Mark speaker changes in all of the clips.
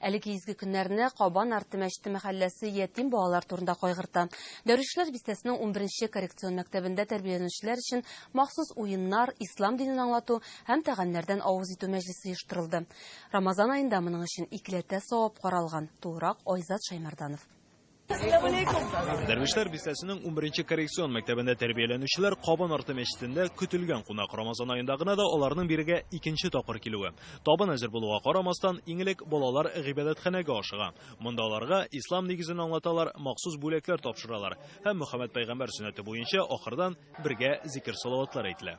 Speaker 1: Әлеге изге көннәрне Кабан арты мәчете мәхәлләсе ятим балалар турында кайгырта. Дәрвишләр бистәсенең унберенче коррекцион мәктәбендә тәрбияләнүчеләр өчен махсус уеннар, ислам динен аңлату һәм тәгамнәрдән авыз итү мәҗлесе оештырылды. Рамазан аенда моның өчен икеләтә савап каралган, тулырак Айзат Шаймарданов.
Speaker 2: Дәрвишләр бистәсенең 11 коррекцион мәктәбендә тәрбияләнүчеләр Кабан арты мәчетендә көтелгән кунак Рамазан аенда гына да аларның бирегә икенче тапкыр килүе. Табын әзер булуга карамастан, иң элек балалар гыйбадәтханәгә ашыга. Монда аларга ислам нигезен аңлаталар, махсус бүләкләр тапшыралар һәм Мөхәммәд пәйгамбәр сөннәте буенча ахырдан бергә зикер-салаватлар әйтелә.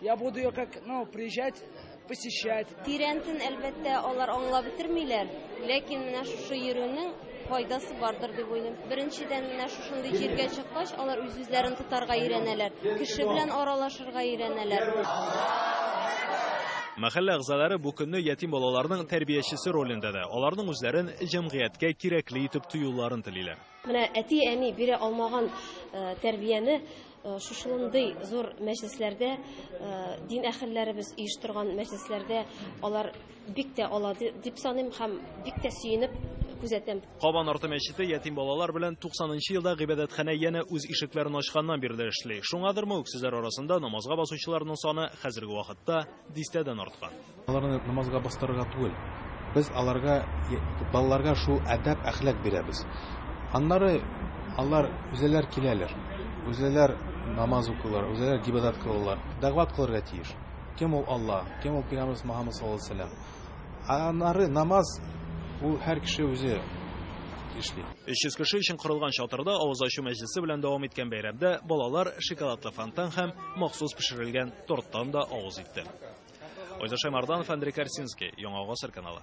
Speaker 3: Я буду ее как, ну, приезжать, посещать. Тирәнтен,
Speaker 4: әлбәттә, алар аңлап бетермиләр. Ләкин менә шушы йөрүнең файдасы бардыр дип уйлыйм. Беренчедән, менә шушындый җиргә чыккач, алар үз-үзләрен тотарга өйрәнәләр. Кеше белән аралашырга өйрәнәләр.
Speaker 2: Мәхәллә әгъзалары бу көнне ятим балаларның тәрбиячесе ролендә дә, аларның үзләрен җәмгыятькә кирәкле итеп тоюларын телиләр. Менә әти-әни
Speaker 4: бирә алмаган тәрбияне шушындый зур мәҗлесләрдә дин әхелләребез оештырган мәҗлесләрдә алар бик тә ала дип саныйм һәм бик тә сөенеп күзәтәм. Кабан арты мәчете
Speaker 2: ятим балалар белән 90 нчы елда гыйбадәтханә янә үз ишекләрен ачканнан бирле эшли. Шуңадырмы, үксезләр арасында намазга басучыларның саны хәзерге вакытта дистәдән арткан. Аларны намазга
Speaker 5: бастырырга түгел. Без аларга, балаларга шул әдәп-әхлак бирәбез. Аннары алар үзләр киләләр, үзләр намаз укыйлар, үзләр гибадат кылалар. Дәгъват кылырга тиеш. Кем ул Алла, кем ул Пәйгамбәрбез Мөхәммәд саллаллаһу алейһи ва сәлләм. Аннары намаз ул һәр кеше үзе эшли. 300 кеше өчен
Speaker 2: корылган чатырда авыз ачу мәҗлесе белән дәвам иткән бәйрәмдә балалар шоколадлы фонтан һәм махсус пешерелгән торттан да авыз итте. Айза Шаймарданов, Андрей Корсинский, Яңа Гасыр каналы.